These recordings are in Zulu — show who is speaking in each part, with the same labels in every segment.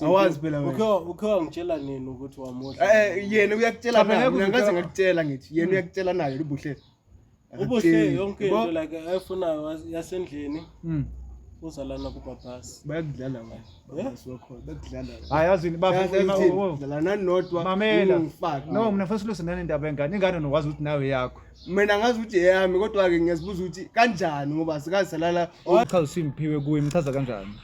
Speaker 1: awazi phela wena ukhe wangitshela nini
Speaker 2: ukuthi wamuhle eh, eh yena uyakutshela
Speaker 1: mina ngikaze ngakutshela ngithi yena hmm. uyakutshela naye ubuhle ubuhle yonke into
Speaker 2: like ayifuna yasendlini hmm. uzalana kubabhasi bayakudlala
Speaker 1: babhasi eh? wakhona bakudlala
Speaker 3: hayi yazini babadlala
Speaker 1: nanodwa mamela
Speaker 3: no mina fesa lose nani ndaba engane ingane nokwazi ukuthi nawe yakho mina ngazi ukuthi
Speaker 1: eyami kodwa-ke ngiyazibuza ukuthi kanjani ngoba sikazisalala uchaza usimphiwe
Speaker 3: kuye mchaza kanjani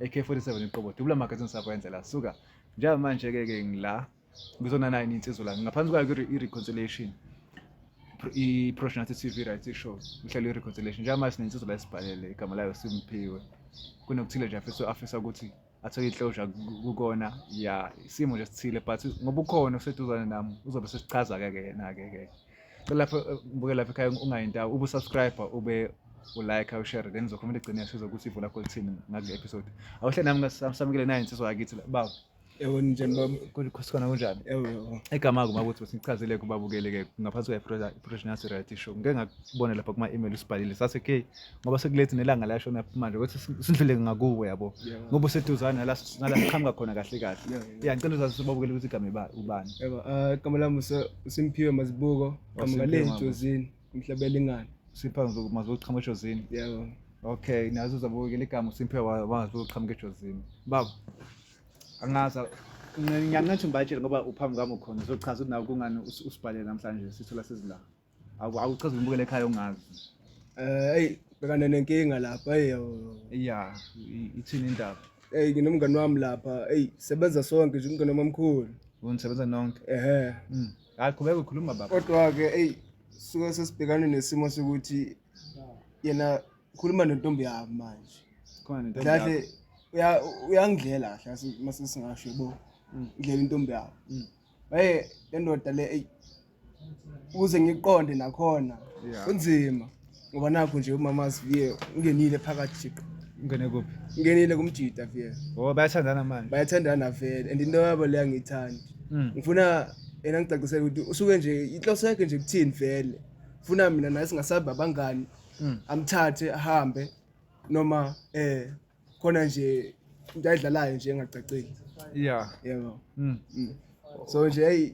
Speaker 3: AK47 iqobo dubula magazini sakwenzela suka njengamanje ke ke ngila ngizona nayo insizwa la ngaphansi kwayo i reconciliation i Proshna TV right show uhlelo i reconciliation njengamanje sinensizwa la esibhalele igama layo simphiwe kunokuthile nje afisa afisa ukuthi athole inhlosha kukona ya isimo nje sithile but ngoba ukhona oseduzane nami uzobe sesichaza ke ke yena ke ke cela lapho eh, buke lapha ekhaya ungayintawo ube usubscriber ube ulike ushare then uzokhuluma ligcine sizo ukuthi ivula kho lithini ngakule episode awuhle nami ngasamukele naye insizwa yakithi baba Ewe njani
Speaker 1: baba? Kulikhosana kunjani?
Speaker 3: Ewe. Igama
Speaker 1: kuma ukuthi
Speaker 3: besichazile kubabukeleke ngaphansi kwe-professional reality show. Ngeke ngakubona lapha kuma-email usibhalile sathi ke ngoba sekulethi nelanga lashona manje ukuthi sidlule ngakuwe yabo ngoba useduzane nala nala siqhamuka khona kahle kahle ya ngicela uzazi sibabukele ukuthi igama iba ubani yebo eh, igama lami
Speaker 1: uSimphiwe Mazibuko igama lami Jozini umhlabela ingane sipha mazibuko
Speaker 3: qhamuka ejozini yebo okay
Speaker 1: nazo
Speaker 3: uzabukela igama uSimphiwe wazibuko qhamuka ejozini baba angaza ngiyanqetha umbatshele ngoba uphambi kwami ukhona uzochaza ukuthi nawe kungani usibhalele namhlanje sithola sezilanga Awu awuchaza umbukele ekhaya ungazi. Eh hey
Speaker 1: bekane nenkinga lapha hey yabo. Yeah,
Speaker 3: i- ithini indaba? Hey nginomngane wami
Speaker 1: lapha. Hey sebenza sonke nje umngane wamamkhulu. Unisebenza nonke.
Speaker 3: Ehhe. Mm. Hayi qhubeka ukhuluma baba. Kodwa ke hey
Speaker 1: suke sesibhekane nesimo sokuthi yena khuluma nentombi yami manje. Khona nento. Kahle
Speaker 3: uya uyangidlela
Speaker 1: kahle mase singasho bo. Ngidlela intombi yami. Mm. Hey lendoda le hey ukuze ngiqonde nakhona Yeah. kunzima ngoba nakho nje umama siviye ungenile phakathi jiqo ungene kuphi
Speaker 3: ungenile kumjida
Speaker 1: viye ngoba bayathandana manje
Speaker 3: bayathandana vele and
Speaker 1: into yabo le angiyithandi Mm. ngifuna yena ngicacisele ukuthi usuke nje inhloso yakhe nje kuthini vele funa mina naye singasabi abangani Mm. amthathe ahambe noma eh khona nje into ayidlalayo nje engacacile ya yebo Mm. so nje hey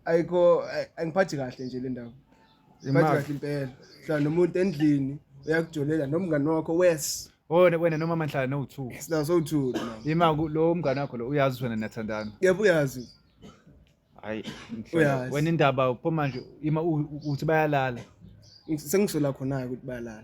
Speaker 1: ayikho ay- angiphathi kahle nje le ndaba ngiphathi Imali. kahle impela hlala nomuntu endlini uyakujolela nomngani wakho wes Wena wena
Speaker 3: noma manhlala no two. sinawo sowuthuli mama
Speaker 1: Ima ku- lo mngane
Speaker 3: wakho lo uyazi ukuthi wena niyathandana. yebo uyazi Hayi.
Speaker 1: ngihlola.
Speaker 3: Uyazi. Wena indaba uphuma manje ima u- u- uthi bayalala. sengisola
Speaker 1: khona-ke ukuthi bayalala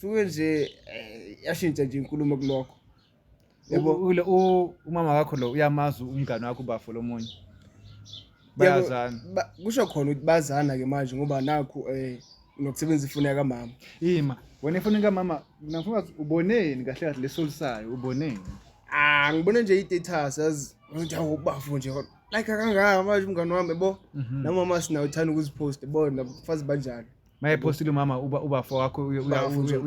Speaker 1: suke nje eh, yashintsha nje inkulumo kulokho yebo U- ule-
Speaker 3: u- umama wakho lo uyamazi umngane wakho ubafo lomunye bayazana Yebo, ba- kusho
Speaker 1: khona ukuthi bazana ke manje ngoba nakhu eh nokusebenza ifoni yakamama ima wena
Speaker 3: ifoni kamama nafuna wazi, uboneni kahle kahle lesolisayo uboneni ah ngibone
Speaker 1: nje i-status yazi ngithi awu ubafo nje kodwa like kangaka manje umngane wami yebo Mhm. namama sinayo uthanda ukuzipost bona fazi banjalo mayephostile umama
Speaker 3: uba ubafo wakho uyalike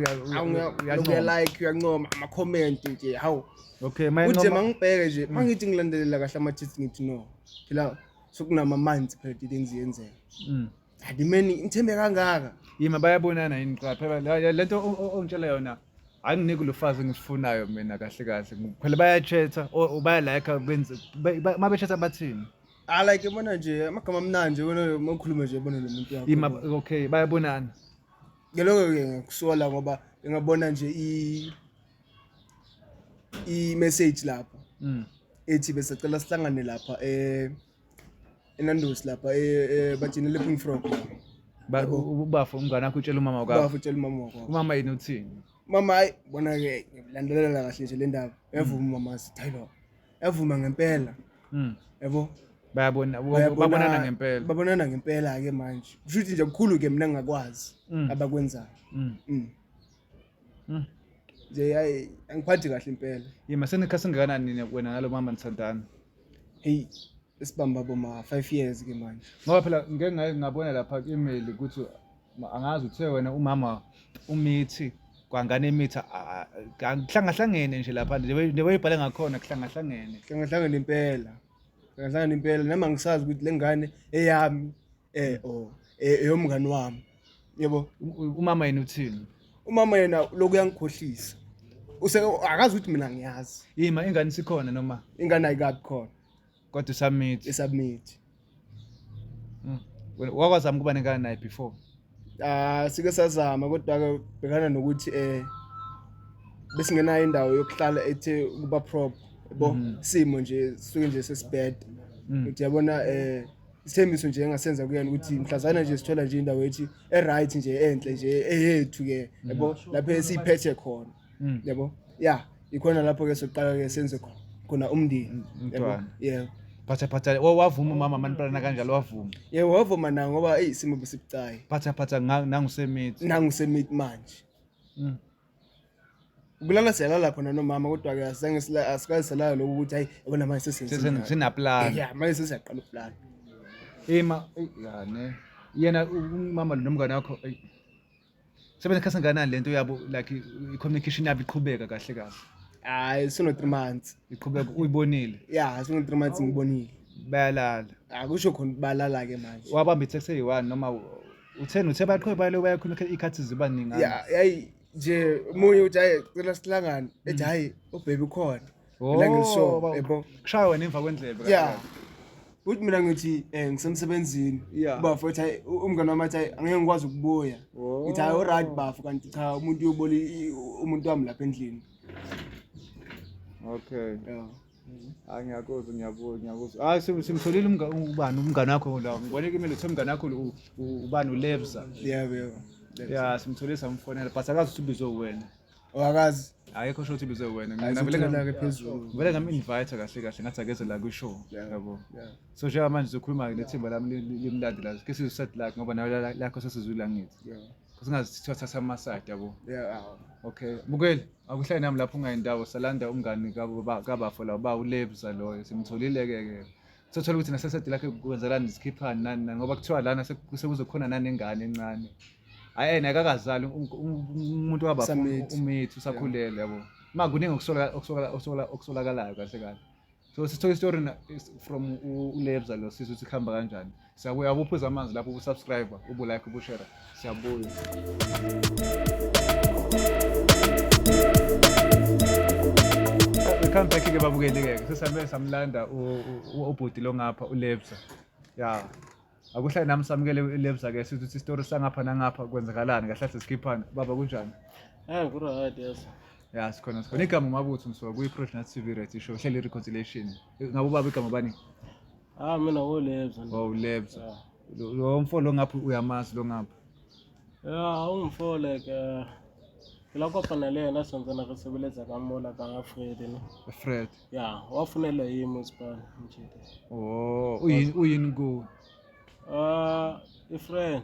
Speaker 1: uyancoma amakhomenti nje hawu okay uthe
Speaker 3: mangibheke nje
Speaker 1: mangithi mm. ngilandelela kahle ama-tits ngithi no phela sokunama-months phela didings yenzeka mm. adimeni ngithembe kangaka yima bayabonana
Speaker 3: yini qha phela le nto ongitshela yona anginiki lufazi engifunayo mina kahle kahle phela bayachetha or bayalayikha benze uma bechetha bathini Ah like yabona
Speaker 1: nje amagama amnandi nje wena uma ukhuluma nje yabona lo muntu yakho. Ima okay bayabonana.
Speaker 3: Ke lokho
Speaker 1: ke ngikusola ngoba ngingabona nje i i message lapha. Mm. Ethi bese cela sihlangane lapha eh eNandos lapha eh bajini lepping frog. Ba
Speaker 3: ubafo umngane wakho utshela umama wakho. Ubafo utshela umama wakho. Umama
Speaker 1: yini uthini?
Speaker 3: Mama hayi
Speaker 1: bona ke ngilandelela kahle nje le ndaba. Yavuma mm. mama sithi hayi baba. yavuma ngempela mm. yabo bayabona
Speaker 3: babonana ngempela babonana ngempela
Speaker 1: ke manje kusho ukuthi nje kukhulu ke mina ngakwazi mm. abakwenzayo mm. mm. mm. nje yayi angiphathi kahle impela yima senikha singakanani
Speaker 3: nina wena nalo mama nisandana hey
Speaker 1: esibamba boma 5 years ke manje ngoba phela ngeke
Speaker 3: ngabona lapha ku-email ukuthi angazi uthe wena umama umithi kwangane imithi kuhlangahlangene nje lapha neweyibhale ngakhona kuhlangahlangene kuhlangahlangene impela kuhlangahlangene impela nami angisazi ukuthi le ngane eyami eh o oh, eh, eyomngani wami yebo umama yena uthini umama yena
Speaker 1: lokhu yangikhohlisa use akazi ukuthi mina ngiyazi yima ingane sikhona
Speaker 3: noma ingane ayikabi khona
Speaker 1: kodwa isubmit
Speaker 3: isubmit hmm. wakwazama ukuba nenkana naye before ah sike
Speaker 1: sazama kodwa ke bhekana nokuthi eh besingenayo indawo yokuhlala ethe ukuba prop bo mhm. simo nje suke nje sesibheda mhm. uthi yabona eh isithembiso nje engasenza kuyena ukuthi mhlazana nje sithola nje indawo ethi e-right nje enhle nje eyethu ke yabo lapho esiyiphethe khona Mm. Yabo? Yeah, ikhona lapho ke soqala ke senze kho- khona umndeni. Mm, Yabo? umntwana.
Speaker 3: Yeah. phatha
Speaker 1: phatha wa-
Speaker 3: wavuma umama manipalana kanjalo wavuma Yeah, wavuma na
Speaker 1: ngoba hey simo besibucayi. phatha phatha nga-
Speaker 3: nangusemithi Nangu
Speaker 1: semit manje. Mm. Kulala siyalala khona nomama kodwa ke asizange sila asikaze salala lokho ukuthi hayi yabona manje Sesen- sesenza. sinaplana
Speaker 3: Yeah, manje sesiyaqala uplan.
Speaker 1: ima
Speaker 3: eyi, ya, ne yena u- umama lo nomngane wakho eyi, Sebenza khathi kanani lento yabo like i-communication yabo iqhubeka kahle kahle. Hayi sino
Speaker 1: 3 months. Iqhubeka uyibonile.
Speaker 3: Yeah, sino 3 months
Speaker 1: ngibonile. Bayalala.
Speaker 3: Akusho khona
Speaker 1: balala ke manje. Wabamba i-text eyi-1
Speaker 3: noma utheni uthe baqhwe bale bayakhuluma ikhathi ziba ningana. Yeah, yayi nje
Speaker 1: munye uthi hayi cela sihlangane ethi hayi ubaby ukhona. Mina ngilisho, ba- yebo. kushaya wena emva kwendlebe
Speaker 3: Yeah. Uthi
Speaker 1: mina ngithi eh ngisemsebenzini. Yeah. Bafo ethi "Hayi, u- umngane wami athi "Hayi, angeke ngikwazi ukubuya. Oh. Ngithi hayi alright bafo kanti cha umuntu uyobona i- i- umuntu wami lapha endlini.
Speaker 3: okay Yeah. hayi ngiyakuzwa ngiyabuzwa ngiyakuzwa hayi sim- simtholile umnga- ubani umngane wakho la ngibone kimele uthe umngane wakho u- u- ubani ulevza Yeah,
Speaker 1: yeah. ya simtholile samfonela
Speaker 3: but akazi ukuthi ubizwe uwena wakazi
Speaker 1: ayikho sho ukuthi bize
Speaker 3: wena mina vele ngake phezulu
Speaker 1: vele ngam invite
Speaker 3: kahle kahle ngathi akeze la ku show yabo so njengoba manje sizokhuluma nethimba lami limlandi la ke sizo set lakhe ngoba nayo lakho sesizwile angithi kusingazi sithiwa thatha ama side yabo okay bukeli akuhlale nami lapho ungayindawo salanda umngani kabafo la uba ulebza loyo simtholile ke ke sothola ukuthi nasesede lakhe kwenzakalani zikhiphani nani nani ngoba kuthiwa lana sekuzokhona nanengane encane hayi yena akakazali umuntu wabapha umithi usakhulele yabo ma kuningi okusolakalayo kahle kahle so sithola istory from ulebza lo sisi ukuthi kuhamba kanjani siyakuya kuphuza amanzi lapho ubusubscribe ubulike ubushera Siyabuya. Come back ke babukeli ke. Sesame samlanda ubhuti lo ngapha uLebza. Yeah. Akuhlale nami samukele uLebza ke sithi isitori sangapha nangapha kwenzakalani kahle kahle sikhiphana. Baba kunjani? Eh kuright
Speaker 2: yes. Ya sikhona sikhona.
Speaker 3: Igama uMabutho ngisuka kwi-Project TV Reality Show, hleli reconciliation. Ngabe ubaba igama bani? Ah mina
Speaker 2: wolebza. Wawulebza.
Speaker 3: Yeah. Lo lo mfo lo ngapha uyamazi lo ngapha. Yeah, ungifo like
Speaker 2: uh, la kopana le yena sentse na re sebeleza ka mola ka ga Fred ne. Fred. Yeah,
Speaker 3: wa funela
Speaker 2: yi mo span nje. Oh, uyin uyin go.
Speaker 3: Ah, uh, a
Speaker 2: friend.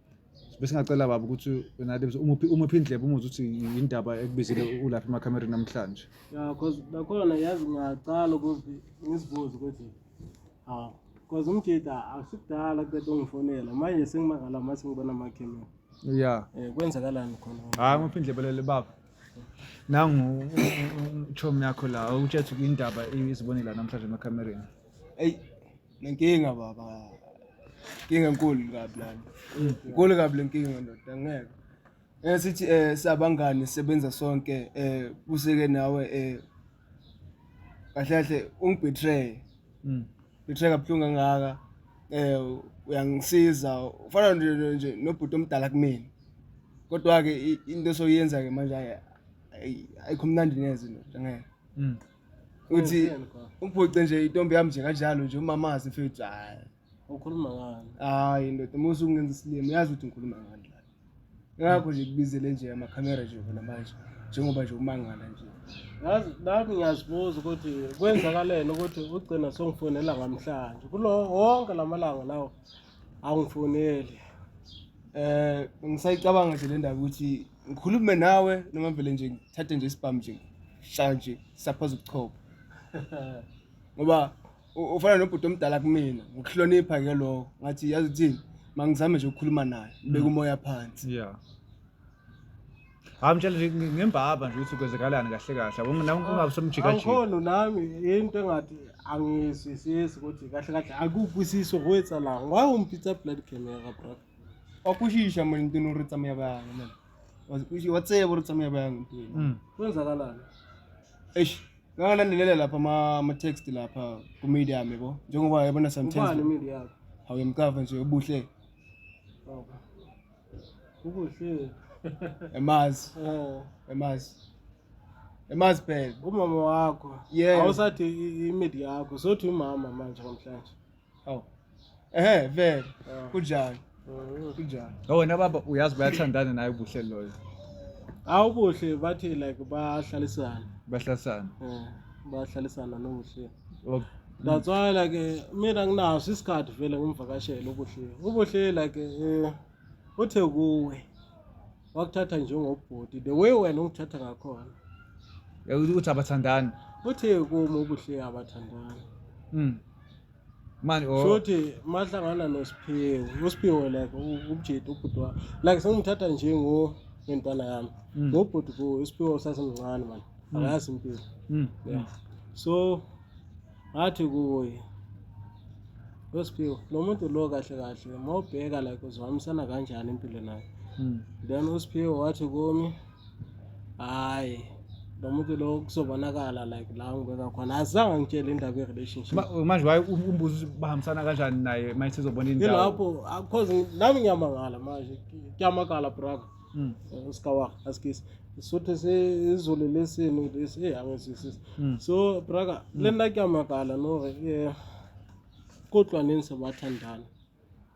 Speaker 3: bese ngacela baba ukuthi wena Adams umuphi umuphi indlebe umuze ukuthi yindaba ekubizile ulapha emakhamera namhlanje ya cause
Speaker 2: nakhona yazi ngaqala ukuthi ngisibuze ukuthi ha cause umjita asikudala kube ongifonela manje sengimangala mase ngibona amakhamera ya eh
Speaker 3: kwenzakalani
Speaker 2: khona hayi umuphi indlebe lele
Speaker 3: baba nangu uchomi yakho la utshethe indaba izibonile namhlanje emakhamereni eyi
Speaker 1: Nenkinga baba. Inkinga enkulu kabi lana. Inkulu kabi lenkinga ndoda ngeke. Eh sithi eh sabangani sebenza sonke eh kuseke nawe eh kahle kahle ungibetray. Mm. Betray kabuhlungu kangaka. Eh uyangisiza ufana nje nje nobhuti omdala kumina. Kodwa ke into soyenza ke manje ayi ayikho mnandi neze ndoda ngeke. Mm. uthi umphoce nje itombi yami nje kanjalo nje umamazi mfethu hayi ukhuluma
Speaker 2: ngani hayi ndoda uma
Speaker 1: usungenza isilima uyazi ukuthi ngikhuluma ngani la ngakho nje kubizele nje amakhamera nje khona manje njengoba nje umangala nje yazi nami
Speaker 2: ngiyazibuza ukuthi kwenzakaleni ukuthi ugcina songifonela ngamhlanje kulo wonke lamalanga lawo angifoneli eh
Speaker 1: ngisayicabanga nje le ndaba ukuthi ngikhulume nawe noma vele nje ngithathe nje isibhamu nje shaya nje saphaza ubuchopho ngoba u- ufana nobhuti omdala kumina ngokuhlonipha ke lokho ngathi yazi uthini mangizame nje ukukhuluma naye ngibeke umoya phansi
Speaker 3: yeah hayi mtshela nje ngi- ngembaba nje ukuthi kwenzekalani kahle kahle Wonke- nawe ungabe somjikajika Angikhono nami
Speaker 2: into engathi angizwisisi ukuthi kahle kahle akukwisisi okwetsa la. Why umpitsa blood camera bro? wa kwishisha
Speaker 1: mani ntino ri tsamaya banga mani wa tsebo ri tsamaya banga ntino mm. kwenzakalani
Speaker 2: eish
Speaker 1: ngangalandelela lapha ama-text lapha kumedia yami bo njengoba yabona sometimes
Speaker 2: awuyemkava nje
Speaker 1: ubuhle
Speaker 2: ubuhle emazi oh. emazi
Speaker 1: emazi phela umama wakho
Speaker 2: yeah awusathi imedia yakho sothi umama manje namhlanje Awu.
Speaker 1: Ehhe vele. Kunjani? Kunjani?
Speaker 3: Oh wena baba uyazi bayathandana naye ubuhle loyo. Awu
Speaker 2: kuhle bathi like bahlalisana. Bahlalisana. Eh, bahlalisana nobuhle. Oh. That's why like eh, mina nginaso isikhathi vele ngimvakashela ubuhle. Ubuhle like eh uthe kuwe. wakuthatha njengobhuti the way wena ungithatha ngakhona Yakuthi
Speaker 3: ukuthi abathandani. uthi kuma
Speaker 2: ubuhle abathandani
Speaker 3: Mm. Manje oh. shothi
Speaker 2: mahlangana nosiphiwe usiphiwe like u- ubujeti ubhuti wa like sengimthatha njengo ngentwana yami Mm. ngobhuti ku usiphiwe usasemncane mani akayazi impilo Mm. yeah so ngathi kuye wesiphiwo lo muntu lo kahle kahle uma ubheka like uzihambisana kanjani impilo naye hmm. then usiphiwo wathi kumi hhayi lo muntu lo kuzobonakala like la ngibeka khona azange ngitshele indaba ye-relationship manje waye um, umbuzo
Speaker 3: ukuthi bahambisana kanjani naye manje sizobona indawo ilapho ah, cause
Speaker 2: nami ngiyamangala manje kuyamakala brother mm. eh, uskawak askisi sothe sezulu lesini ukuthi angizwisisi mm. so braka mm. le nna ke amakala nore um kodwa nini sebathandana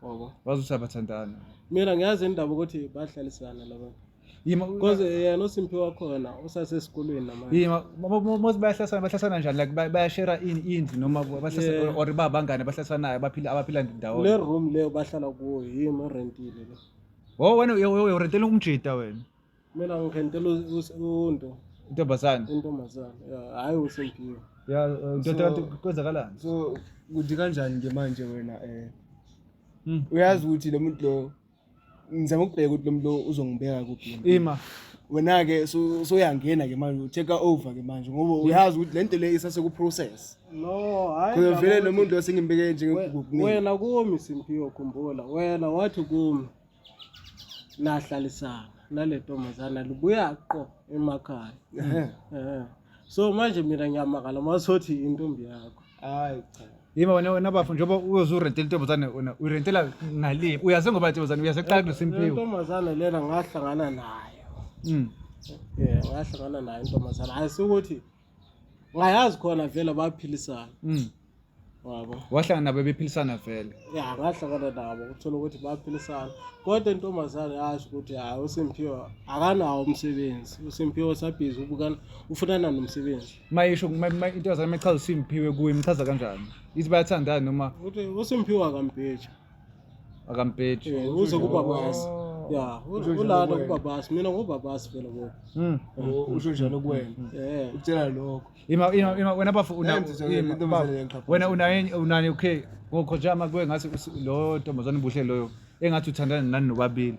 Speaker 2: ngoba bazothi abathandana
Speaker 3: mina ngiyazi
Speaker 2: indaba ukuthi bahlalisana laba because yena usimpi wakhona usasesikolweni namanje bayahlasana
Speaker 3: bahlasana njani like bayashera indlu noma or babangane bahlasanayo abaphila abaphila ndawonye le room leyo bahlala
Speaker 2: kuyo yini orentile le Wo wena uye- uye- urentela
Speaker 3: umjita wena. mina
Speaker 2: ngirentela unto Intombazane.
Speaker 3: intombazane ya
Speaker 2: hhayi usempiwe Ya uh, ndoda kanti
Speaker 3: kwenzakalani? so kuthi
Speaker 1: kanjani nje manje wena um Mm. uyazi ukuthi lo muntu lo ngizama ukubheka ukuthi lo muntu lo uzongibeka kuphi lo muntu. Ima.
Speaker 3: wena-ke so-
Speaker 1: soyangena-ke manje u-take over-ke manje ngoba uyazi ukuthi le nto le isasekuprocess No, hayi. Khona
Speaker 2: vele lo muntu lo
Speaker 1: sengimbeke nje ngegugugini. Wena kumi
Speaker 2: Simphiwe khumbula. Wena wathi kumi. Lahlalisana nale ntombazana libuya qo emakhaya. Ehhe. Eh. So manje mina ngiyamakala masothi intombi yakho. Hayi cha.
Speaker 1: Yima wena wena bafo
Speaker 3: njengoba uyoze urentele intombazane wena urentela ngale. Uyazi ngoba intombazane uyazi eqala kulo Simphiwe. Intombazana lena
Speaker 2: ngahlangana nayo. Mm. Eh, ngahlangana nayo intombazana. Hayi ukuthi ngayazi khona vele abaphilisana mm. wabo wahlangana nabo
Speaker 3: bephilisana vele ya ngahlangana nabo
Speaker 2: kuthola ukuthi baphilisana kodwa intombazane yasho ukuthi hayi usimphiwe akanawo umsebenzi usimphiwe usabhizi ubukana ufunana nomsebenzi mayisho
Speaker 3: intombazane mayichaza usimphiwe kuye imchaza kanjani ithi bayathandana noma ukuthi
Speaker 2: usimphiwe
Speaker 3: akambheja
Speaker 2: akampethu
Speaker 3: Eh, uze
Speaker 2: kubabasi ya u- ulana kubabasi mina ngubabasi phela bo Mm. U- usho
Speaker 1: njani kuwena Eh, ukutshela lokho Ima ima ima wena
Speaker 3: bafo una Yenze njalo, ima, into bafo, emzele
Speaker 1: ngiqapha. wena unaye
Speaker 3: unani okay ngokhothama kuwe ngathi usi- lo ntombazane buhle loyo engathi uthandana nani nobabili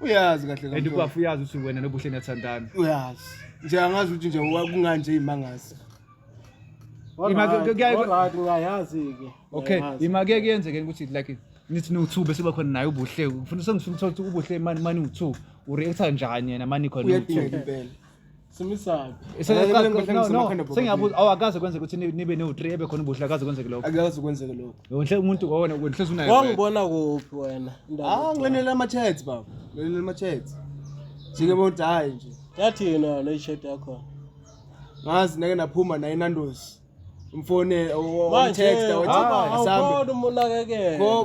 Speaker 3: uyazi kahle kahle and
Speaker 1: kwafu uyazi ukuthi wena
Speaker 3: nobuhle niyathandana uyazi
Speaker 1: nje angazi ukuthi nje kunganje imangazi
Speaker 2: ngayazi-ke okay imake
Speaker 3: kuyenzeke ukuthi like nithi niwu-two bese uba khona naye ubuhle ngifuna sengifuna ukuthola ukuthi ubuhle mani mani uwu-two ureacta njani yena mani khona uwu-two uyadingeka impela
Speaker 1: simisaphi
Speaker 3: sengiyabuza awu akaze kwenzeka ukuthi nibe newu-three ebe khona ubuhle akaze kwenzeke lokho akaze kwenzeke lokho
Speaker 1: yonhle umuntu ngowona
Speaker 3: nhlezi unayo wangibona kuphi
Speaker 2: wena ah ngilenele
Speaker 1: ama-chats baba ngilenele ama-chats njengebondi hhayi nje yathi yena le
Speaker 2: shirt yakho ngazi
Speaker 1: nake naphuma naye inandosi mfone text awuthi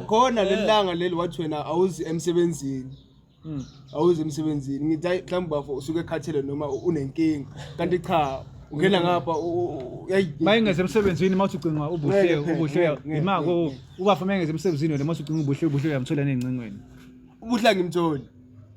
Speaker 2: khona lelanga
Speaker 1: leli wathi wena awuzi emsebenzini Hmm. awuze emsebenzini ngithi hayi mhlawumbe bafo usuke ekhathele noma u- unenkinga kanti cha ungena ngapha u- u- u- yayi uma engeze
Speaker 3: emsebenzini uma uthi ucinga ubuhle Ngeke, ngeke, ubuhle ngeke, yima ngeke, ko ngeke. ubafo uma engeze emsebenzini wena uma uthi ucinga ubuhle ubuhle uyamthola nezincingweni ubuhle
Speaker 1: angimtholi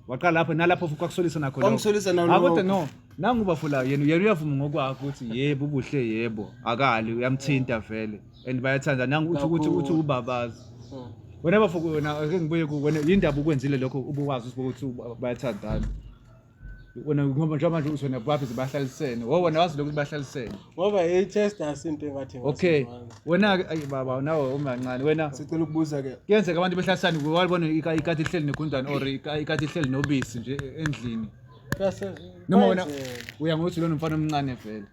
Speaker 1: waqala lapho
Speaker 3: nalapho futhi kwakusolisa nakho lokho. Kwakusolisa nalokho. Ah, kodwa
Speaker 1: no nangu
Speaker 3: ubafo la yena yena uyavuma ngokwakhe ukuthi yebo ubuhle yebo akali uyamthinta vele and bayathanda nangu uthi ukuthi uthi Kakhulu. ubabazi Mm. wena bafo wena ake ngibuye ku wena yindaba ukwenzile lokho ubuwazi ukuthi uba- bayathandana wena ngoba njengoba manje uthi wena bapheze bahlalisene wo wena wazi lokho ukuthi bahlalisene ngoba i-chester
Speaker 2: sinto engathi okay ngasimazi. wena-ke
Speaker 3: ayi baba nawe umancane wena sicela ukubuza ke
Speaker 1: kuyenzeka abantu behlalisane kuwe
Speaker 3: walibona ika- ikati ihleli negundane or ika- ikati ihleli nobisi nje endlini Kuyase- noma wena kwenzeka. uya ngokuthi lona mfana omncane vele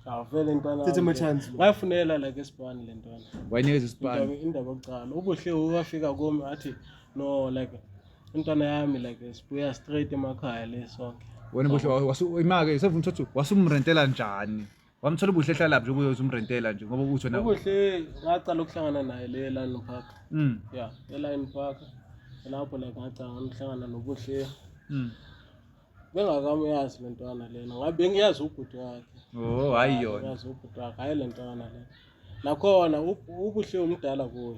Speaker 3: Awuvele ntwana.
Speaker 2: Thethe ama chance.
Speaker 1: Wayafunela like
Speaker 2: esibani le ntwana. Wayinikeza isibani.
Speaker 3: Indaba yokuqala. Ubuhle
Speaker 2: uwafika kumi athi no like intwana yami like sibuya straight emakhaya le sonke. Wena buhle wasu
Speaker 3: imake sevuma ukuthi wasumrentela njani? Wamthola ubuhle ehlala laphi ukuze uzumrentela nje ngoba ukuthi wena Ubuhle ngaqala
Speaker 2: ukuhlangana naye le Lion Park. Mm. Yeah, e Lion Park. Lapho la ngaqala ngihlangana nobuhle. Mm. bengakamuyazi le ntwana lena ngabe bengiyazi ubhuti wakhe oh hayi yona
Speaker 3: bengiyazi ubhuti wakhe hayi le
Speaker 2: ntwana lena nakhona ubuhle umdala kuyo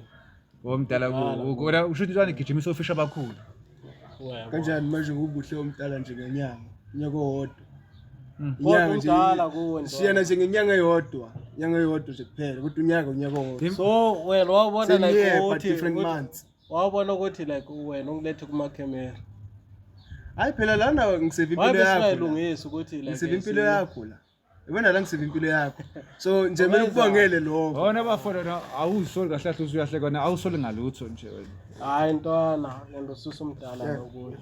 Speaker 2: omdala oh,
Speaker 3: kuyo usho ukuthi ntwana igijimisa ofisha abakhulu
Speaker 1: kanjani manje ubuhle omdala nje ngenyanga unyaka owodwa hmm. inyanga
Speaker 2: nje siyana nje ngenyanga
Speaker 1: eyodwa inyanga eyodwa nje kuphela kodwa unyaka unyaka owodwa so wena
Speaker 2: wabona like ukuthi different months
Speaker 1: wawubona ukuthi
Speaker 2: like wena ungilethe kumakhemera
Speaker 1: hayi phela lana ngiseva impilo yakholungisa ukuthi like
Speaker 2: ngiseva impilo yakho
Speaker 1: la ibona la ngiseva impilo yakho so nje kumele ukubongele lokho wona bafona na
Speaker 3: awusoli kahle kahle usuyahle kona awusoli ngalutho nje wena hayi ntwana
Speaker 2: lento susa umdala lokuyo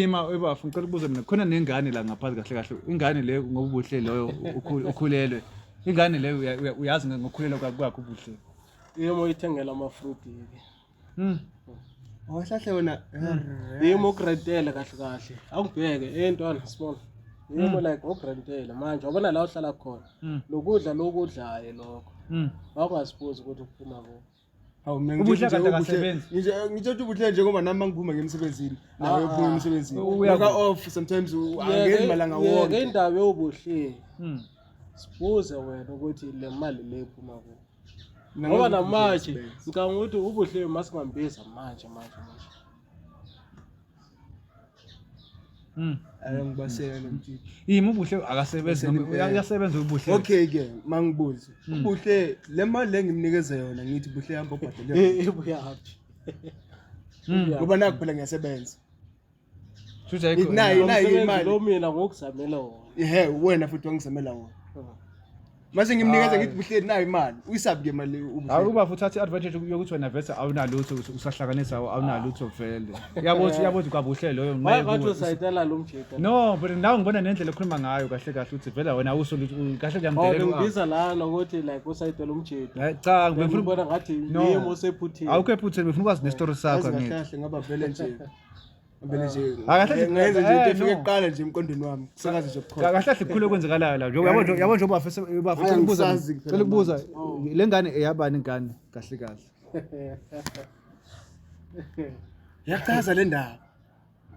Speaker 1: ima ebafu ngicela ukubuza
Speaker 3: mina khona nengane la ngaphansi kahle kahle ingane le ngobuhle loyo ukhu- ukhulelwe ingane leyo uya- uya- uyazi nge- ngokukhulelwa kwa- kwakho ubuhle yimo ithengela
Speaker 2: amafruti ke Hmm. Wahlahle
Speaker 1: wena. yimo
Speaker 2: ukurentele kahle kahle awubheke eh ntwana sibona yimo like ukurentele manje wabona la uhlala khona Mm. lokudla lokudlayo lokho Hmm. wawungazibuzi ukuthi kuphuma kuphi Hawu mina Ubuhle ngitshela kanti ukuthi
Speaker 1: ubuhle- akasebenzi.
Speaker 3: ngitshela- ngitshela ukuthi ubuhle
Speaker 1: nje ngoba nami mangiphuma ngiya emsebenzini nawe Ah, uphuma emsebenzini uya- uka off sometimes u- angeni malanga Yeke wonke indaba yobuhle
Speaker 2: Hmm. sibuze wena ukuthi le mali le iphuma kuphi Mina ngoba ngazi ukuthi namanje ubuhle ngicabanga ukuthi ubuhle masingambiza manje manje manje
Speaker 1: Mm. Ayangibaseka lo mjiji. Yimi ubuhle
Speaker 3: akasebenzi noma Ubuhle. uyasebenza ubuhle. Okay ke
Speaker 1: mangibuze. Mm. Ubuhle le mali le ngimnikeze yona ngithi buhle hamba ubhadele. yona. Eh, ibuya haphi
Speaker 2: Mm.
Speaker 1: Yeah. Ngoba nakuphela ngiyasebenza.
Speaker 3: Shuthi ayikho. Nayi- nayi Umsebenzi imali. lo
Speaker 1: mina
Speaker 2: ngokuzamela
Speaker 1: wona Ehe
Speaker 2: wena
Speaker 1: futhi wangizamela wona. mase ngimnikeza ngithi buhleli nayo imali uyisabi ke mali akuba futhi athi advantage
Speaker 3: yokuthi wena vese awunalutho usahlanganisa awunalutho vele yabo ukuthi yabo ukuthi kwabuhle loyo nqe wathi usayitela
Speaker 2: lo mjita no but now ngibona
Speaker 3: nendlela ekhuluma ngayo kahle kahle uthi vele wena awuso kahle kuyamdelela ngibiza la nokuthi
Speaker 2: like usayitela umjita eh, cha ngifuna ubona
Speaker 3: ngathi
Speaker 2: yimo sephuthile awukho ephuthile ngifuna ukwazi
Speaker 3: ne story sakho ngithi kahle ngoba vele nje
Speaker 1: Ngempela nje. Akahle nje- Ngenze nje into
Speaker 3: eh, efike no.
Speaker 1: kuqala nje emqondweni wami. Kusakaze nje bukhoma. Ka- kahle kahle kukhulu okwenzekalayo
Speaker 3: la njengoba yabo nje- yabo njengoba bafese bafese Hhayi, ukubuza angisazi kuphela cela ukubuza le ngane eyabani ingane kahle kahle
Speaker 1: Yachaza le ndaba.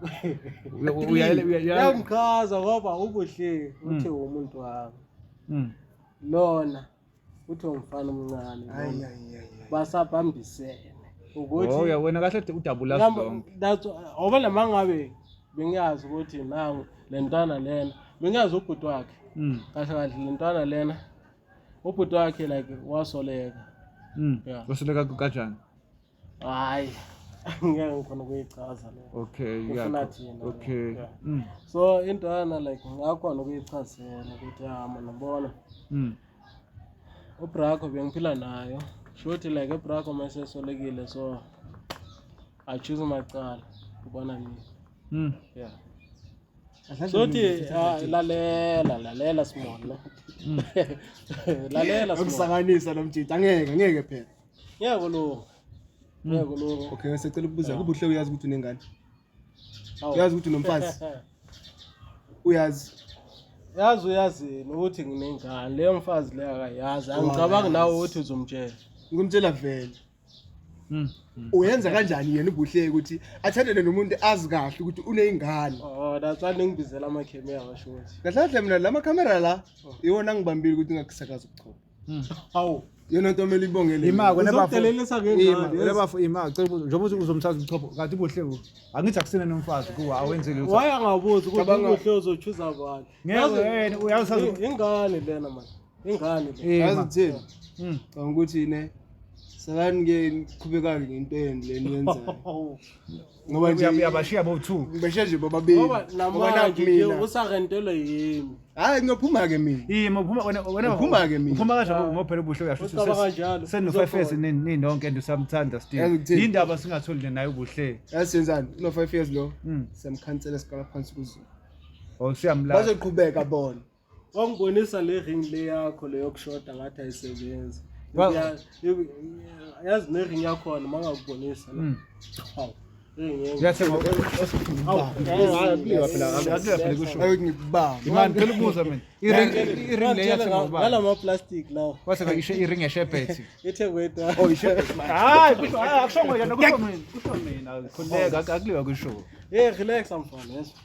Speaker 1: Uya- uya-
Speaker 2: uya- uya- uya- Yamchaza ngoba ubuhle uthi umuntu wami. Mm. Lona uthi umfana omncane
Speaker 1: basabhambisene
Speaker 2: ukuthiuya wena kahle
Speaker 3: udabula ngoba
Speaker 2: nama ngabe bengiyazi ukuthi nangu le ntwana lena bengiyazi ubhuti wakhe hmm. kahle kahle le ntwana lena ubhuti wakhe like wasoleka hmm. wasoleka kanjani
Speaker 3: hayi
Speaker 2: ngeke ngifuna ukuyichaza le okay ngifuna
Speaker 3: thina
Speaker 2: okay yeah. mm.
Speaker 3: so
Speaker 2: into yana like ngakhona ukuyichazela ukuthi hama nabona mm. ubrako bengiphila nayo shuthi like ubrako masesolekile so i choose umacala kubona mina mm. yeah sothi ah, lalela lalela simona mm. lalela simona ukusanganisa nomjita
Speaker 1: ngeke ngeke phela ngeke kulunga
Speaker 2: Mm. ngeke kulunga
Speaker 1: okay sicela ukubuza kuba uhle uyazi ukuthi unengane Hawu. uyazi ukuthi unomfazi uyazi yazi uyazi yena ukuthi
Speaker 2: nginengane leyo mfazi leyo akayazi angicabangi nawe ukuthi uzomtshela ngimtshela vele
Speaker 1: Mm. uyenza kanjani yena ubuhle ukuthi athandele nomuntu azi kahle ukuthi uneyingane oh that's why
Speaker 2: ningibizela amakhemi yabasho ukuthi kahle kahle mina la makhamera
Speaker 1: la iwona angibambile ukuthi ngakusakaza ubuchopho Hmm. Hawu. Yena
Speaker 2: nto mele ibongele.
Speaker 1: Ima kona bafo. Uzodelelisa
Speaker 3: ke ngani? Ima
Speaker 2: kona bafo ima cela ukuthi
Speaker 3: njengoba uzomthatha umchopho kanti kuhle ku. Angithi akusena nomfazi kuwa awenze lutho. Waya ngabuzi ukuthi
Speaker 2: kuhle uzochuza abantu. Ngeke yena
Speaker 3: uyazi ingane lena
Speaker 2: manje. Ingane lena. Yazi thini? Hmm.
Speaker 1: Ngicabanga ukuthi ne Sakani ke qhubekani ngento yenu leni yenzayo. ngoba nje uyabashiya bo two ngibeshe
Speaker 3: nje bobabili
Speaker 1: ngoba namanje nje
Speaker 2: usarentelwe yimi hayi ngiyophuma ke
Speaker 1: mina yimi uphuma wena wena uphuma
Speaker 3: ke mina uphuma
Speaker 1: kanjalo ah. ngophela ubusho
Speaker 3: uyasho ukuthi senu five
Speaker 2: years nini
Speaker 3: nonke and usamthanda still indaba singatholi nayo ubuhle yasenzani no
Speaker 1: five years lo hmm. samkhansela sikala phansi kuzo oh siyamlala
Speaker 3: bazoqhubeka
Speaker 1: bona wangibonisa
Speaker 2: le ring le yakho leyokushoda ngathi ayisebenzi yazi ne-ring yakhona uma ngakubonisa
Speaker 3: hmm. ngalamaplastiki
Speaker 2: lawo wase isho iring
Speaker 3: yeshebhethi ithengwe oh, hayi akusho
Speaker 2: ngoyena
Speaker 1: kusho
Speaker 3: mina kusho mina khuleka akuliwa kusho hey relax
Speaker 2: mfana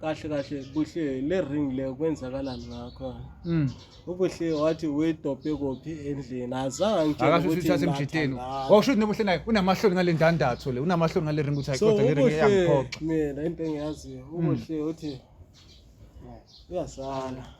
Speaker 2: kahle kahle buhle le ring le kwenzakalani ngakho mm. ubuhle wathi wedobhe kophi endlini azange akasho ukuthi uthathe
Speaker 3: emjiteni washo ukuthi nobuhle naye unamahloni ngale ndandatho le unamahloni ngale ring ukuthi ayiqoda le ring yangiphoxa mina into engiyaziyo
Speaker 2: ubuhle mm. uthi uyasala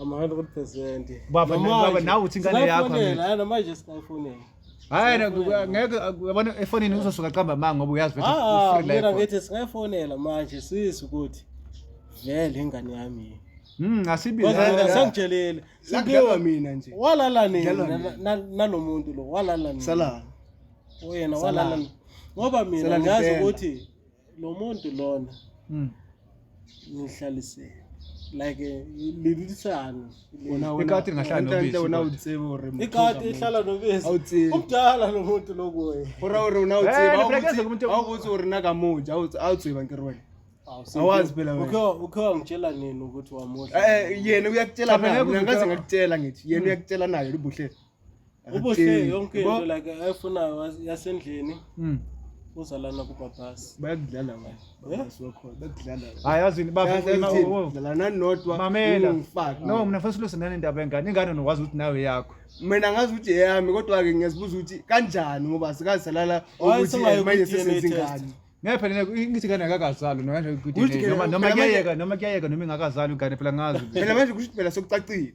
Speaker 3: ama 100%
Speaker 2: baba ngoba nawe
Speaker 3: uthi ingane yakho mina manje
Speaker 2: singayifonela
Speaker 3: hayi ngeke yabona efonini uzosuka qamba manga ngoba uyazi ukuthi ah, ufree life mina ngithi
Speaker 2: singayifonela manje sisi ukuthi vele ingane yami Mm asibize
Speaker 3: sangitshelile
Speaker 2: sibiwa mina
Speaker 1: nje walala nini
Speaker 2: nalomuntu lo walala nini sala
Speaker 1: oyena
Speaker 2: walala ngoba mina ngazi ukuthi lo muntu lona mm. ngihlalisele like eh, lilisane ikati
Speaker 3: lingahlala nobisi wena utsebe ore
Speaker 1: ikati ihlala
Speaker 2: nobisi umdala lo muntu lokuye ora ora
Speaker 1: una utsebe eh, awukuthi ore
Speaker 2: na
Speaker 1: kamuja awutseba ngirwena awazi phela wena ukhe wangitshela nini
Speaker 2: ukuthi wamuhle eh yena uyakutshela
Speaker 1: mina ngaze ngakutshela ngithi yena uyakutshela nayo libuhle ubuhle
Speaker 2: yonke
Speaker 1: into like ayifunayo yasendlini mm. uzalana
Speaker 3: kubabhasi bayakudlala
Speaker 1: bakudlala hayi yazini babalanani nodwa mamela
Speaker 3: no mina funa siluse nani indaba yengane ingane nokwazi ukuthi nawe yakho mina ngazi ukuthi
Speaker 1: eyami kodwa-ke ngiyazibuza ukuthi kanjani ngoba sikazisalala ukuthi manje sesenza ingane ngeke phela ngithi
Speaker 3: kana akakazalwa nokanje noma noma kuyayeka noma kuyayeka noma ingakazalwa ingane phela ngazi phela manje kusho phela
Speaker 1: sokucacile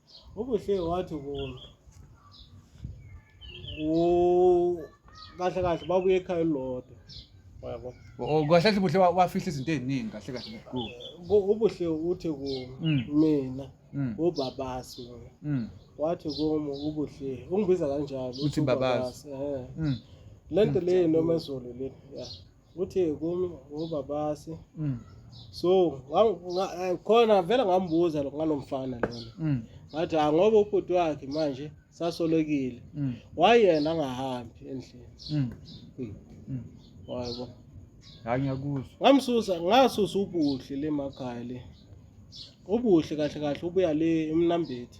Speaker 2: ubuhle wathi kulo kahle kahle babuye ekhaya elilodwa yabo oh, kahle kahle ubuhle
Speaker 3: wafihla izinto eziningi kahle kahle kulo ubuhle
Speaker 2: uthi kulo mm. mina mm. ubabasi mm. wathi kumo ubuhle ungibiza kanjalo uthi babasi
Speaker 3: eh.
Speaker 2: le nto leyo noma ezolo le ya uthi kumi ngubabasi mm. so eh, khona vele ngambuza ngalo mfana lona mm. ngathi ah, ngoba ubhuti wakhe manje sasolekile mm. wayena angahambi endlini mm. mm. mm. wayebo
Speaker 3: hayi ngiyakuzwa ngamsusa ngasusa ubuhle
Speaker 2: le makhaya le ubuhle kahle kahle ubuya le emnambethi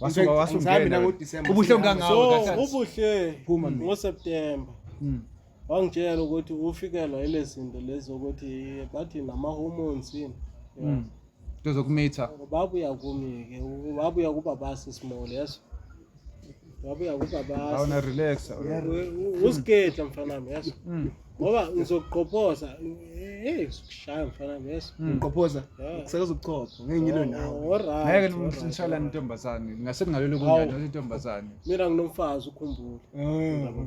Speaker 1: wasuka wasungena ubuhlungu kangawo so
Speaker 3: ubuhle
Speaker 2: ngoSeptember hmm. wangitshela ukuthi ufikelwa ile zinto lezi ukuthi bathi nama-hormones yini hmm. nto zokumitha
Speaker 3: babuya
Speaker 2: kumi-ke babuya kuba basi small yeso wabuya kubabasa awuna relax
Speaker 3: usigedla
Speaker 2: mfana wami yazi mm. ngoba ngizokuqophoza hey sikushaya mfana wami yazi mm. ngiqophoza
Speaker 1: kusakaza ukuchopha ngeke ngilo oh, nawe ngeke ngishayela
Speaker 3: intombazane ngase kungalelo kunjani intombazane mina nginomfazi
Speaker 2: ukhumbule oh.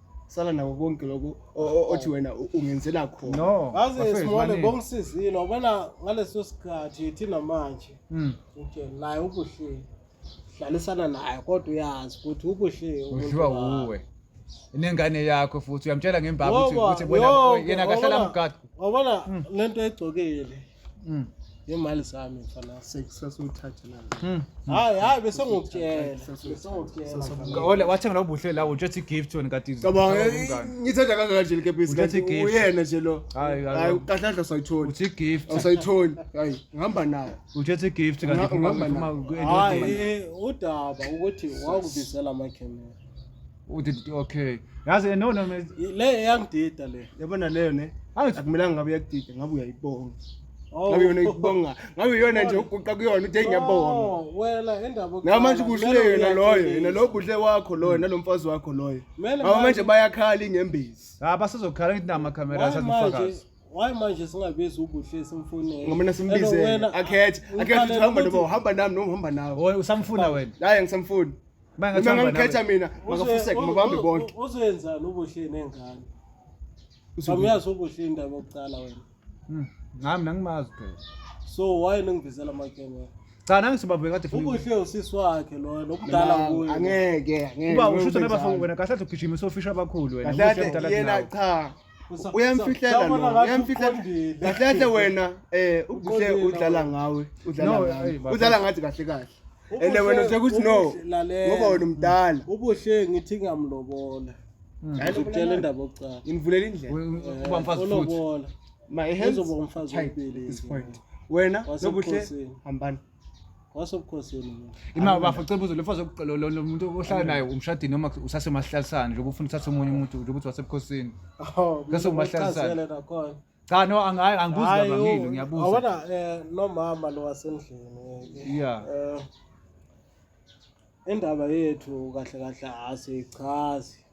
Speaker 1: sala nako konke lokho o- o- othi wena u- ungenzela khona no Yazi bafethu, Simone
Speaker 3: baningi.
Speaker 2: bongisizile wabona ngaleso sikhathi thina manje Mm. nje naye ubuhle dlalisana naye kodwa uyazi ukuthi ubuhle umuntu udliwa wakho. wuwe
Speaker 3: inengane yakho futhi uyamtshela ngembaba ukuthi Ngoba ukuthi yonke, bona yena akahlala wabona- mgadu wabona lento
Speaker 2: egcokile Mm. Ngemali zami mfana. Sasuthathe la.
Speaker 1: Mm. Hayi
Speaker 2: hayi bese ngokutshela. Bese
Speaker 3: ngokutshela. Ole wathenga lo buhle la utsho ethi gift wena kati. Cabanga eh, ngithatha
Speaker 1: kangaka nje likepisi kanti uyena nje lo. Hayi hayi kahle kahle sayithola. Uthi gift. Awusayitholi.
Speaker 3: Hayi
Speaker 1: ngihamba nayo. Utsho ethi gift kanti
Speaker 3: ngihamba nayo. Hayi eh,
Speaker 2: udaba ukuthi wakubizela ama camera. udididi
Speaker 3: okay yazi no no me- le eyangidida
Speaker 2: le yabona leyo ne
Speaker 1: angithi akumelanga ngabe uyakudida ngabe uyayibonga Oh. ngabe yona ikubonga ngabe yona nje uguqa kuyona uthi ngiyabonga Oh, wela indaba
Speaker 2: ngabe manje ubuhlule yena
Speaker 1: loyo yena loyo ubuhle wakho loyo nalomfazi wakho loyo Mele ngabe manje manje- bayakhala ingembezi ha basazokhala ngithi nama
Speaker 3: camera Why manje asazifakazi why manje
Speaker 2: singabizi ubuhle simfunele ngoba mina simbizele
Speaker 1: akhethe akhethe uthi hamba noma uhamba nami noma uhamba nawe Oy, usamfuna wena hayi
Speaker 3: angisamfuni
Speaker 1: Uma engathi Uma uhamba nawe. ngangikhetha mina makafuseke mabahambe bonke. Uzoyenzani ubuhle
Speaker 2: nengane? Awuyazi ubuhle indaba yokuqala wena. Mm,
Speaker 3: Ngami
Speaker 2: nangimazi phela.
Speaker 3: So
Speaker 2: why ningivezela
Speaker 3: amakhemera?
Speaker 2: Cha
Speaker 3: nangisibabhe kade funa. Ubuhle usisi wakhe
Speaker 2: loyo nokudala Mina, kuye. Angeke, angeke. Uba
Speaker 1: usho ukuthi Ngenzani?
Speaker 3: nabafo wena kahle athi ugijima sofisha abakhulu wena. Kahle Ubuhle kade mdala yena kunawe. cha.
Speaker 1: uyamfihlela no uyamfihlela kahle wena eh ubuhle udlala ngawe udlala ngawe udlala ngathi kahle kahle ene wena sekuthi no ngoba wena umdala ubuhle ngithi
Speaker 2: ngamlobola hmm. ngizokutshela indaba okucala nginivulela indlela eh,
Speaker 1: uba mfazi
Speaker 3: futhi ma
Speaker 2: ehenzo
Speaker 1: bomfazi wempilo wena nobuhle hambani wasobukhosini
Speaker 2: imali bafo
Speaker 3: cela ubuze lefo lo muntu ohlala naye umshadini noma usasemahlalisana nje ukufuna uthathe omunye umuntu nje ukuthi wasebukhosini bese umahlalisana cha no angayi angibuzi kabangile ngiyabuza awona eh
Speaker 2: nomama lo wasendlini
Speaker 3: yeah
Speaker 2: eh, indaba yethu kahle kahle asichazi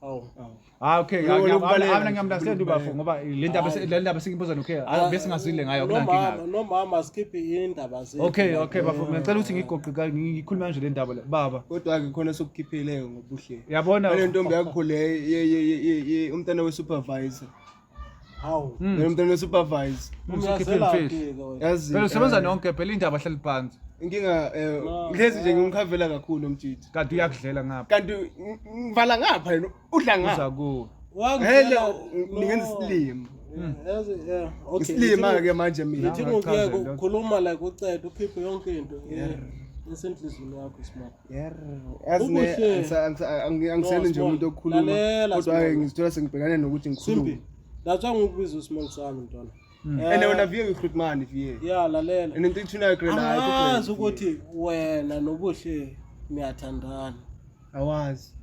Speaker 2: Hawu. Ah okay, Lokho
Speaker 3: ngiya- lokubaleka abanye nje, ngiyamundasendi ubafo lokubaleka. ngoba le ndaba Hayi. le ndaba sengibuza nokhe Ah, bese ngazwile ngayo Nomama, kunankinga. nomama sikhiphe
Speaker 2: indaba zethu. Okay, okay bafo ngicela
Speaker 3: ukuthi ngigoqe ka- ngi- ngikhulume kanje le ndaba le. Baba, kodwa-ke khona
Speaker 1: sokukhipheleyo ngobuhle yabona le ntombi
Speaker 3: yakho le
Speaker 1: ye- ye- ye- ye- ye- umntana we-supervisor
Speaker 2: Hmm. Mina mntwana
Speaker 1: supervise. Yazi. Phela
Speaker 3: usebenza eh, nonke phela indaba hleli phansi. Inkinga eh
Speaker 1: ngezi nje ngimkhavela kakhulu umjiji. Kanti uyakudlela ngapha.
Speaker 3: Kanti
Speaker 1: ngivala ngapha yena udla ngapha. Uza ku.
Speaker 3: Hello
Speaker 1: ningenza isilimo. Hmm. Yazi yeah. Okay. Isilima ke manje mina. Ngithi ngiyeke ukukhuluma
Speaker 2: like ucede ukhiphe yonke into. Yeah. Esenhlizweni yakho smart. yazi ne Okuhle. angisa- angisa- angi- angisele nje Small, umuntu
Speaker 1: okhuluma lalela, kodwa Small. ke ngizithola sengibhekane nokuthi ngikhulume simpi that's why ngikubiza
Speaker 2: usmall sami mntwana and Eh, wena vie
Speaker 1: ngihlutmani vie ya lalela and into
Speaker 2: ithunayo
Speaker 1: angazi ukuthi
Speaker 2: wena nobuhle niyathandana awazi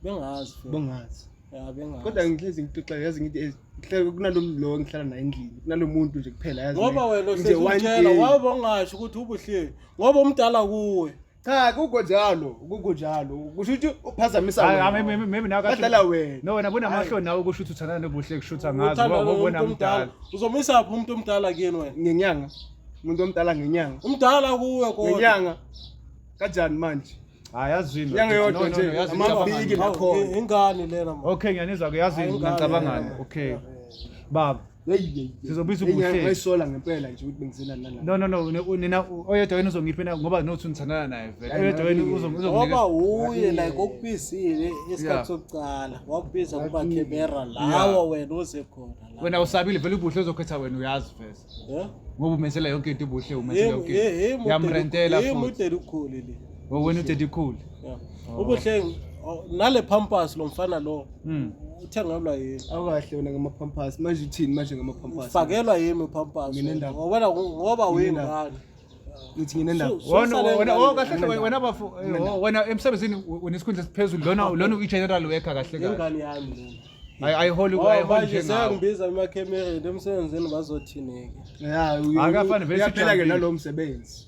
Speaker 1: bengazi
Speaker 2: futhi. bongazi ya bengazi kodwa ngihlezi ngixoxa
Speaker 1: yazi ngithi eh, ngihlale kunalo lo ngihlala naye endlini kunalo muntu nje kuphela yazi ngoba ne. wena Nje one
Speaker 2: usezitshela day. waba ungasho ukuthi ubuhle ngoba umdala kuwe cha kukho
Speaker 1: njalo kukho njalo kusho ukuthi uphazamisa wena maybe nawe
Speaker 3: badlala wena no wena
Speaker 1: bunamahloni nawe
Speaker 3: kusho ukuthi uthandana nobuhle kushutha ngazi wabona mdala uzomisa phi umuntu
Speaker 2: omdala kuyena wena ngenyanga
Speaker 1: umuntu omdala ngenyanga umdala kuwe kodwa
Speaker 2: ngenyanga
Speaker 1: kanjani manje hayi yazini inyanga
Speaker 3: yodwa nje
Speaker 1: amabiki nakhona ingane lena
Speaker 2: okay ngiyanizwa ke
Speaker 3: yazini ngicabangani okay baba sizobiza ubuhlengaisola ngempela nje
Speaker 1: ukuthi bengizelani nalaa no no no nina
Speaker 3: oyedwa wenu uzongiphi na ngoba nothi nithandana naye vele oyedwa wenu ngoba wuye
Speaker 2: like okubizile isikhathi sokucala wakubiza kuba camera lawa wena uze khona wena usabile vele ubuhle
Speaker 3: uzokhetha wena uyazi vese ngoba umenzela yonke into ubuhle umenzela yonke yamrentela futhi mudeli ukhuli
Speaker 2: le wena udedi ukhuli
Speaker 3: ubuhle
Speaker 2: nale pampas lo mfana lo Mm. Uthengelwa yini? Awukahle wena ngamapampers.
Speaker 1: Manje uthini manje ngamapampers? Ufakelwa yini upampers?
Speaker 2: Mina ndaba. Ngoba ngoba uyingane. Ngithi ngine
Speaker 1: ndaba. Wona wona oh kahle
Speaker 3: kahle wena bafu oh, wena emsebenzini unesikhundla esiphezulu lona lona uyi general worker kahle kahle. Ingane yami lona.
Speaker 2: ayiholi oh,
Speaker 3: ayiholi nje ngawo
Speaker 2: ngibiza emakemereni emsebenzini bazothini ke ya akafani
Speaker 3: vele siphela ke nalo msebenzi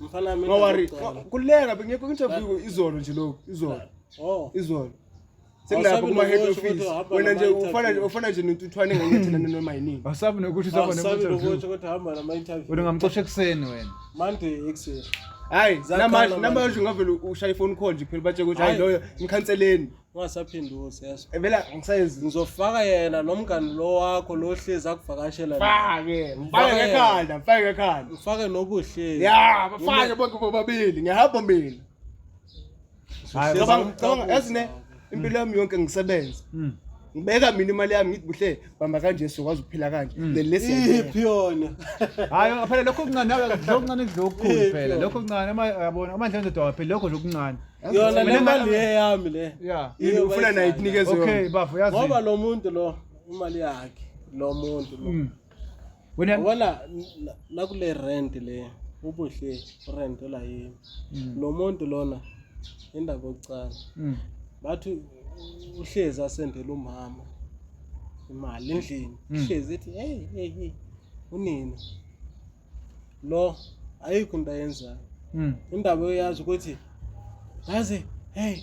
Speaker 1: Mfana mina.
Speaker 2: Ngawari. Kuleka
Speaker 1: bengekho interview izolo nje lokho, izolo. Oh. Izolo. Sekulapha kuma head office. Wena nje ufana ufana nje nentuthwane ngenyathela noma yini. Asabi nokuthi usaba ne interview.
Speaker 3: Asabi nokuthi kodwa hamba
Speaker 2: nama interview. Wena ngamxosha ekseni
Speaker 3: wena. Monday ekseni.
Speaker 2: Hayi,
Speaker 1: namanje namanje ngavele ushaya ifone call nje phela batshe ukuthi hayi loyo ngikhanseleni. ungasaphindusi
Speaker 2: yeso ebela ngisayenzi
Speaker 1: ngizofaka yena
Speaker 2: nomngani lo wakho lo hlezi akuvakashela fake mfake ekhanda
Speaker 1: mfake ekhanda ufake nobuhle
Speaker 2: ya bafake
Speaker 1: bonke bobabili ngiyahamba mina ngicabanga ezine impilo yami yonke ngisebenza hmm. ngibeka mina imali yami ngithi buhle bamba kanje sokwazi ukuphila kanje mm. then lesi iphi yona
Speaker 2: hayi phela
Speaker 3: lokho kuncane nawe lokho kuncane kuzokukhulu phela lokho kuncane uma yabona uma ndlela ndoda phela lokho lokuncane yona le mali
Speaker 2: eyami le yeah yini ufuna nayo
Speaker 1: ikunikeze okay bafo yazi ngoba lo
Speaker 3: muntu lo
Speaker 2: imali yakhe lo muntu lo mm. wena
Speaker 3: wala
Speaker 2: nakule rent le ubuhle rent la yini mm. lo muntu lona indaba yokucala mm. bathi uhlezi asendela umama imali endlini mm. uhlezi ethi hey hey hey unina lo ayikho into ayenzayo indaba uyazi ukuthi yazi hey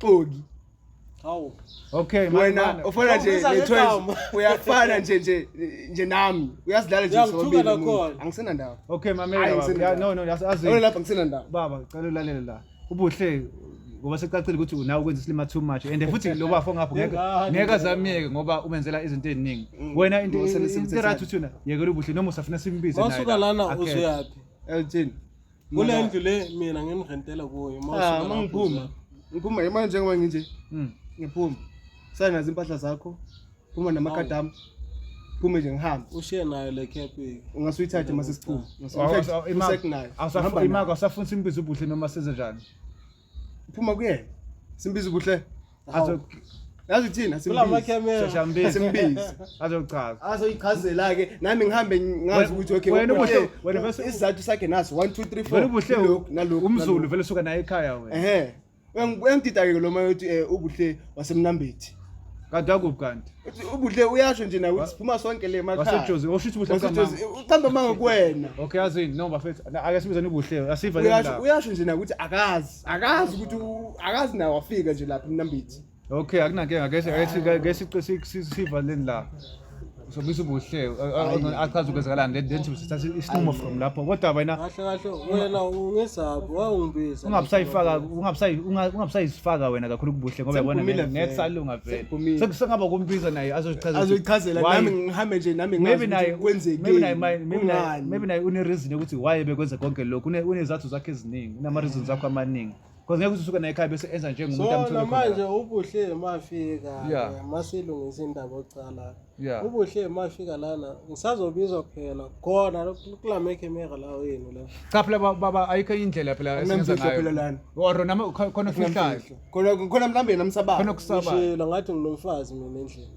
Speaker 1: Xoki. Hawu.
Speaker 2: Okay, wena
Speaker 3: ufana nje
Speaker 1: nethwenzi. Uyafana nje nje nje nami. Uyazidlala nje sobabili. Angisena ndawo. Okay, mamela baba.
Speaker 3: No, no, azi. Wena lapha ngisena ndawo. Baba,
Speaker 1: cela ulalele la.
Speaker 3: Ubuhle ngoba secacile ukuthi unawe ukwenza isilima too much and futhi lo bafo ngapho ngeke ngeke azamiyeke ngoba umenzela izinto eziningi mm. wena into into right uthuna yekela ubuhle noma usafuna simbize naye wasuka lana uzuyaphi
Speaker 2: elthini
Speaker 1: kule ndlu
Speaker 2: le mina ngimrentela kuyo ah, uma ngiphuma
Speaker 1: ngiphuma imali njengoba nginje hmm. ngiphuma sale nazo impahla zakho phuma namakhadi ami phume nje ngihambe ushiye nayo le cap
Speaker 2: ungase uyithathe uma
Speaker 1: sesiphuma
Speaker 3: imako asafunisa imbiza ubuhle noma senze njani Phuma
Speaker 1: kuyena. Simbiza ubuhle. Azo Yazi thina simbizi. Simbizi. Azochaza.
Speaker 3: Azoyichazela ke
Speaker 1: nami ngihambe ngazi ukuthi okay. Wena ubuhle wena bese
Speaker 3: isizathu sakhe naso 1
Speaker 1: 2 3 4. Wena ubuhle nalokho.
Speaker 3: Umzulu vele suka naye ekhaya wena. Ehhe. Uyangidida
Speaker 1: ke lo mayothi eh, ubuhle wasemnambethi kanti akuphi
Speaker 3: kanti ubuhle uyasho
Speaker 1: nje nawe siphuma sonke le makhaya wasejozi osho ukuthi ubuhle
Speaker 3: kamama uqamba manga
Speaker 1: kuwena okay azini no bafethu
Speaker 3: ake sibize ubuhle asiva le ndaba uyasho nje nawe ukuthi
Speaker 1: akazi akazi ukuthi akazi nawe wafika nje lapha emnambethi okay akunankinga
Speaker 3: ngeke ngeke siva le ndaba Usobisa ubuhle achaze ukwenzakalani le then sithatha isinqumo from lapho kodwa wena kahle kahle wena
Speaker 2: ungesaphi wawungibiza ungabusayifaka ungabusayi
Speaker 3: ungabusayifaka wena kakhulu kubuhle ngoba yabona ngeke salunga vele sekusengaba kumbiza naye azochazela azochazela nami
Speaker 1: ngihambe nje nami ngazi naye kwenzekile maybe naye maybe naye
Speaker 3: maybe naye une reason ukuthi why bekwenza konke lokho une unezathu zakhe eziningi unama reasons akho amaningi Because ngeke usuke naye ekhaya bese enza njengomuntu so amthole khona. namanje ubuhle
Speaker 2: mafika Yeah. eh, masilungisa indaba oqala Yeah. ubuhle mafika lana ngisazobizwa kuphela khona kulame camera lawo yenu la Cha phela ba- baba
Speaker 3: ayikho indlela phela esenza Anginamfihlo phela ngayo. lana. Or nama khona ofihlayo. Anginamfihlo. khona khona mhlawumbe
Speaker 1: namsabayo Khona okusaba. ngishilo
Speaker 3: ngathi nginomfazi
Speaker 2: mina endlini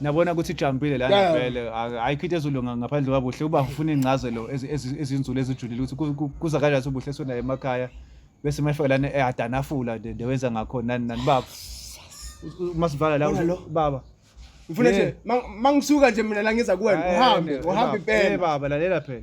Speaker 3: nabona ukuthi ijambile lana Yeah. vele Ak- ayikho into ezolunga ngaphandle kwabuhle uba ufuna iy'ncazelo ezi- ezi- ezinzulu ezijulile ukuthi ku- ku- kuza kanjani ukuthi ubuhle sonayo emakhaya bese mefika lana ehadanafula nde nde wenza ngakhona nani nani baba U- u- masivala la Bona lo. u- baba ngifuna Yeah. nje
Speaker 1: ma-
Speaker 3: mangisuka
Speaker 1: nje mina la ngiza kuwena Eh, uhambe
Speaker 3: eh,
Speaker 1: uhambe baba. Eh, impela baba lalela
Speaker 3: phela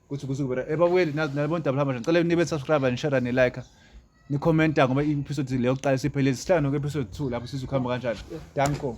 Speaker 3: kuthi kusuke bera eh babuyeli nazi nalibona double hammer ngicela nibe subscribe and share ne like ni commenta ngoba i episode leyo kuqala siphele isihlanu ke episode 2 lapho sizokuhamba kanjani danko